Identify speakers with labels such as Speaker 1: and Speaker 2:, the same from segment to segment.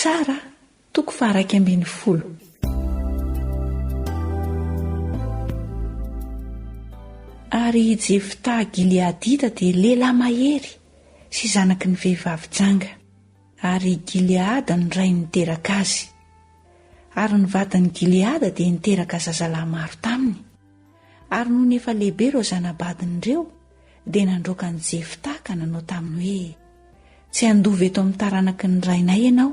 Speaker 1: Mpitsara, toko faharaika ambin'ny folo. Ary i Jefta Gileadita dia lehilahy mahery sy zanaky ny vehivavy janga, ary i Gileada no rainy niteraka azy. Ary ny vadin'i Gileada dia niteraka zazalahy maro taminy. Ary nony efa lehibe ireo zana-badiny ireo, dia nandroaka an'i Jefta ka nanao taminy hoe, Tsy handova eto amin'ny taranaky ny rainay ianao,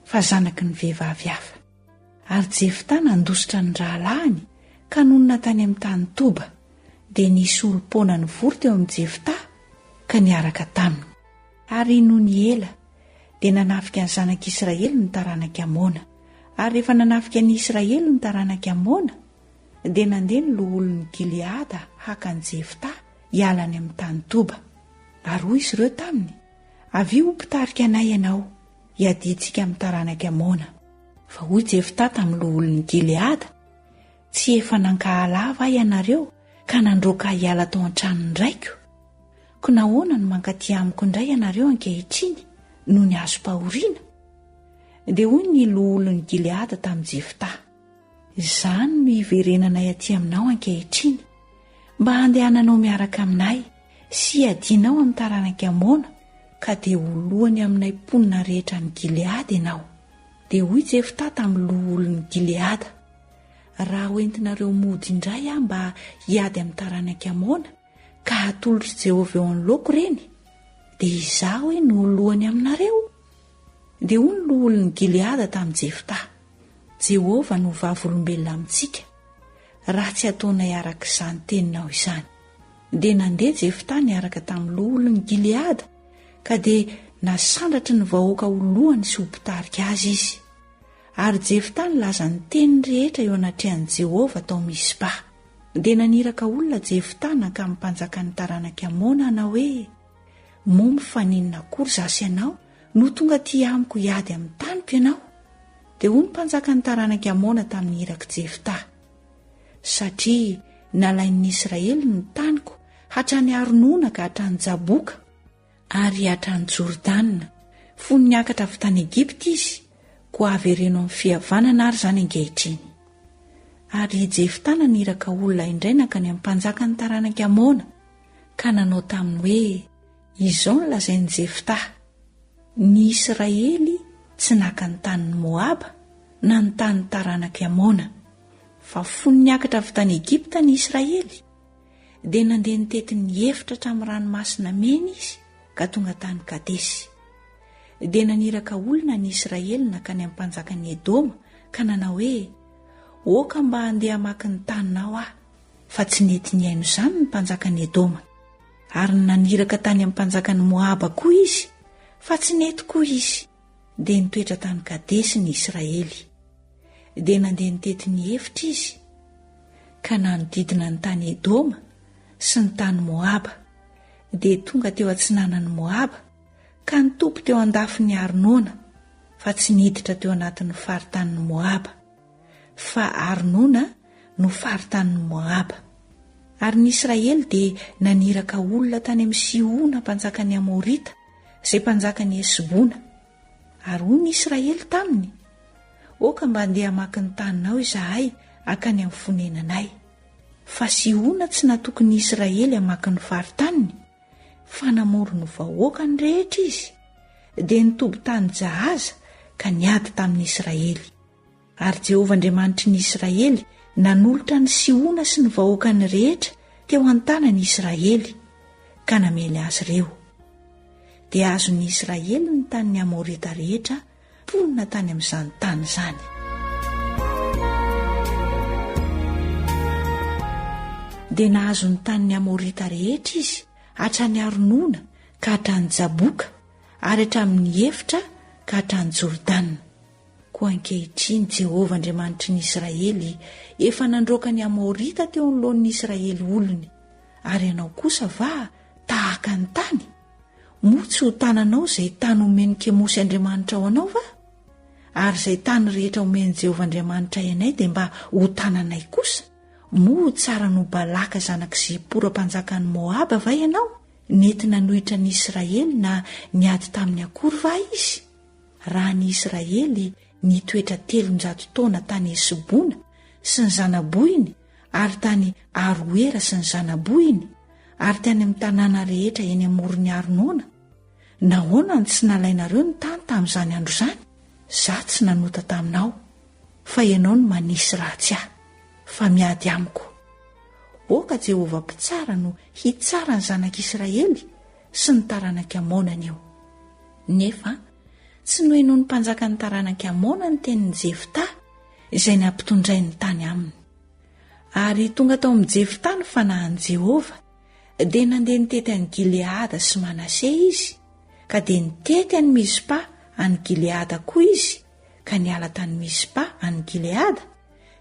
Speaker 1: fa zanaky ny vehivavy hafa. Ary Jefta nandositra ny rahalahiny ka nonina tany amin'ny tany Toba, dia nisy olom-poana nivory teo amin'i Jefta ka niaraka taminy. Ary nony ela, dia nanafika ny zanak'i Israely ny taranak'i Amona. Ary rehefa nanafika an'i Israely ny taranak'i Amona, Dia nandeha ny loholon'i Gileada haka an'i Jefta hiala any amin'ny tany Toba. Ary hoy izy ireo taminy, Avia ho mpitarika anay ianao, hiadintsika amin'ny taranak'i Amona. Fa hoy Jefta tamin'ny loholon'i Gileada, Tsy efa nankahala ahy va ianareo ka nandroaka ahy hiala tao an-tranon'ny raiko? Koa nahoana no mankaty amiko indray ianareo ankehitriny noho ny hazom-pahoriana? Dia hoy ny loholon'i Gileada tamin'i Jefta, Izany no hiverenanay aty aminao ankehitriny, mba handehananao miaraka aminay sy hiadianao amin'ny taranak'i Amona, ka dia ho lohany aminay mponina rehetra any Gileada ianao. Dia hoy Jefta tamin'ny loholon'i Gileada, Raha hoentinareo mody indray aho mba hiady amin'ny taranak'i Amona, ka hatolotr'i Jehovah eo anoloako ireny, dia izaho hoe no ho lohany aminareo. Dia hoy ny loholon'i Gileada tamin'i Jefta, Jehovah no vavolombelona amintsika, raha tsy ataonay araka izany teninao izany. Dia nandeha Jefta niaraka tamin'ny loholon'i Gileada, ka dia nasandratry ny vahoaka ho lohany sy ho mpitarika azy izy. Ary Jefta nilaza ny teniny rehetra eo anatrehan'i Jehovah tao Mizpa. Dia naniraka olona Jefta nankamy mpanjakan'ny taranak'i Amona hanao hoe, Momo fa n'inona akory izaho sy ianao no tonga aty amiko hiady amin'ny taniko ianao? Dia hoy ny mpanjakan'ny taranak'i Amona tamin'ny irak'i Jefta, Satria nalain'ny Israely ny taniko hatrany Aronona ka hatrany Jaboka, ary hiatrà an'i Jordana, fony niakatra avy tany Egypta izy, koa havereno amin'ny fihavanana àry izany ankehitriny. Ary i Jefta naniraka olona indray nankany amin'ny mpanjakan'ny taranak'i Amona, ka nanao taminy hoe, Izao no lazain'i Jefta, Ny Israely tsy naka ny tanin'i Moaba na ny tanin'ny taranak'i Amona, fa fony niakatra avy tany Egypta ny Israely, dia nandeha nitety ny efitra hatramin'ny ranomasina mena izy ka tonga tany Kadesy. Dia naniraka olona ny Israely nankany amin'ny mpanjakan'i Edoma ka nanao hoe, Oka mba handeha hamaky ny taninao aho. Fa tsy nety nihaino izany ny mpanjakan'i Edoma. Ary naniraka tany amin'ny mpanjakan'i Moaba koa izy, fa tsy nety koa izy. dia nitoetra tany Kadesy ny Israely. Dia nandeha nitety ny efitra izy, ka nanodidina ny tany Edoma sy ny tany Moaba, dia tonga teo atsinanan'i Moaba, ka nitopy teo an-dafin'i Arnona, fa tsy niditra teo anatin'ny faritanin'i Moaba, fa Arnona no faritanin'i Moaba. Ary ny Israely dia naniraka olona tany amin'i Sihona mpanjakan'ny Amorita, izay mpanjakan'i Hesbona. Ary hoy ny Israely taminy, Oka mba handeha hamaky ny taninao izahay hankany amin'ny fonenanay. Fa Sihona tsy natoky ny Israely hamaky ny faritaniny, fa namory ny vahoakany rehetra izy, dia nitoby tany Jahaza ka niady tamin'ny Israely. Ary Jehovah Andriamanitry ny Israely nanolotra an'i Sihona sy ny vahoakany rehetra teo an-tanan'i Israely, ka namely azy ireo. Dia azon'ny Israely ny tanin'ny Amorita rehetra mponina tany amin'izany tany izany. Dia nahazo ny tanin'ny Amorita rehetra izy, hatrany Arnona ka hatrany Jaboka, ary hatramin'ny efitra ka hatrany Jordana. Koa ankehitriny, Jehovah Andriamanitry ny Israely efa nandroaka ny Amorita teo anoloan'ny Israely olony. Ary ianao kosa va tahaka ny tany? Moa tsy ho tananao izay tany omen'i Kemosy andriamanitrao anao va? Ary izay tany rehetra omen'i Jehovah Andriamanitray anay dia mba ho tananay kosa? Moa ho tsara noho Balaka zanak'i Zipora mpanjakan'i Moaba va ianao? Nety nanohitra an'i Israely na niady taminy akory va izy? Raha ny Israely nitoetra telonjato taona tany Hesbona sy ny zanabohiny ary tany Aroera sy ny zanabohiny ary tany amin'ny tanàna rehetra eny amoron'ny Arnona, nahoana no tsy nalainareo ny tany tamin'izany andro izany? Izaho tsy nanota taminao, fa ianao no manisy ratsy ahy, fa miady amiko. Oka Jehovah Mpitsara no hitsara ny zanak'Israely sy ny taranak'i Amona anio. Nefa tsy nohenoin'ny mpanjakan'ny taranak'i Amona ny tenin'i Jefta, izay nampitondrainy tany aminy. Ary tonga tao amin'i Jefta ny fanahin'i Jehovah, dia nandeha nitety an'i Gileada sy Manase izy, ka dia nitety an'i Mizpa any Gileada koa izy, ka niala tany Mizpa any Gileada,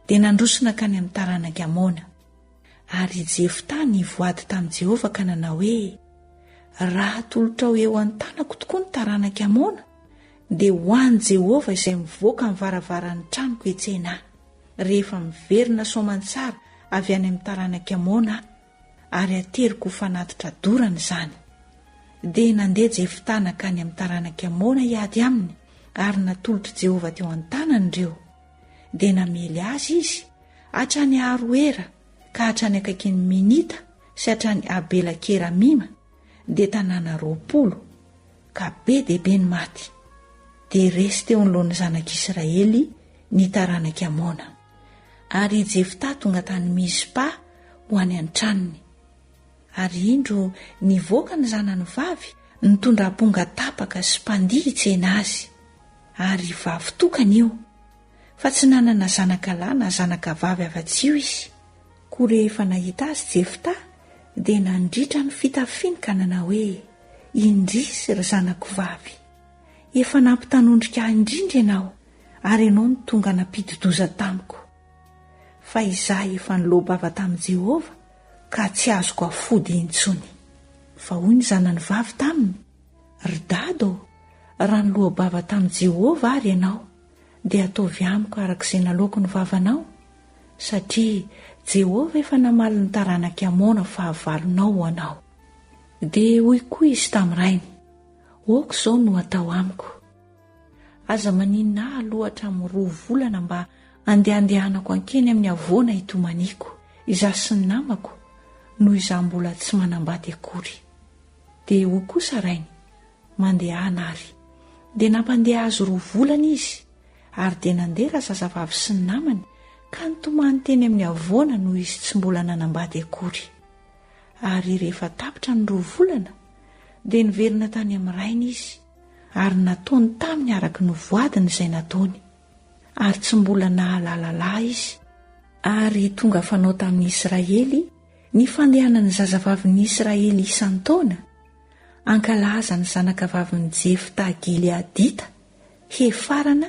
Speaker 1: dia nandroso nankany amin'ny taranak'i Amona. Ary i Jefta nivoady tamin'i Jehovah ka nanao hoe, Raha atolotrao eo an-tanako tokoa ny taranak'i Amona, dia ho an'i Jehovah izay mivoaka amin'ny varavaran'ny tranoko hetsena ahy, rehefa miverina soamantsara avy any amin'ny taranak'i Amona aho, ary ateriko ho fanatitra dorana izany. Dia nandeha Jefta nankany amin'ny taranak'i Amona hiady aminy, ary natolotr'i Jehovah teo an-tanany ireo. dia namely azy izy hatrany Aroera ka hatrany akaikin'ny Minita sy hatrany Abela Keramima dia tanàna roapolo, ka be dia be ny maty. Dia resy teo anoloan'ny zanak'Israely ny taranak'i Amona. Ary i Jefta tonga tany Mizpa ho any an-tranony. Ary indro nivoaka ny zanany vavy nitondra amponga tapaka sy mpandihy hitsena azy. Ary vavy tokana io. Fa tsy nanana zanaka lahy na zanaka vavy afa-tsy io izy. Koa rehefa nahita azy Jefta dia nandritra ny fitafiny ka nanao hoe, Indrisy, ry zanako vavy. Efa nampitanondrika ahy indrindra ianao, ary ianao no tonga nampidi-doza tamiko. Fa izaho efa niloa-bava tamin'i Jehovah, ka tsy azoko afody intsony. Fa hoy ny zanany vavy taminy, Ry dada ô, raha niloa-bava tamin'i Jehovah àry ianao, dia ataovy amiko araka izay naloako ny vavanao, satria Jehovah efa namaly ny taranak'i Amona fahavalonao ho anao. Dia hoy koa izy tamin'ny rainy, Aoka izao no atao amiko. Aza maninona ahy aloha hatramin'ny roa volana mba handehandehanako ankeny amin'ny havoana hitomaniako, izaho sy ny namako, noho izaho mbola tsy manambady akory. Dia hoy kosa rainy, Mandehana ary. Dia nampandeha azy roa volana izy, ary dia nandeha razazavavy sy ny namany ka nitomany teny amin'ny havoana noho izy tsy mbola nanambady akory. Ary rehefa tapitra ny roa volana, dia niverina tany amin'ny rainy izy. Ary nataony taminy araka ny voadiny izay nataony, ary tsy mbola nahalala lahy izy. Ary tonga fanao tamin'ny Israely ny fandehanan'ny zazavavin'ny Israely isan-taona, hankalaza ny zanakavavin'i Jefta Gileadita, Hefarana,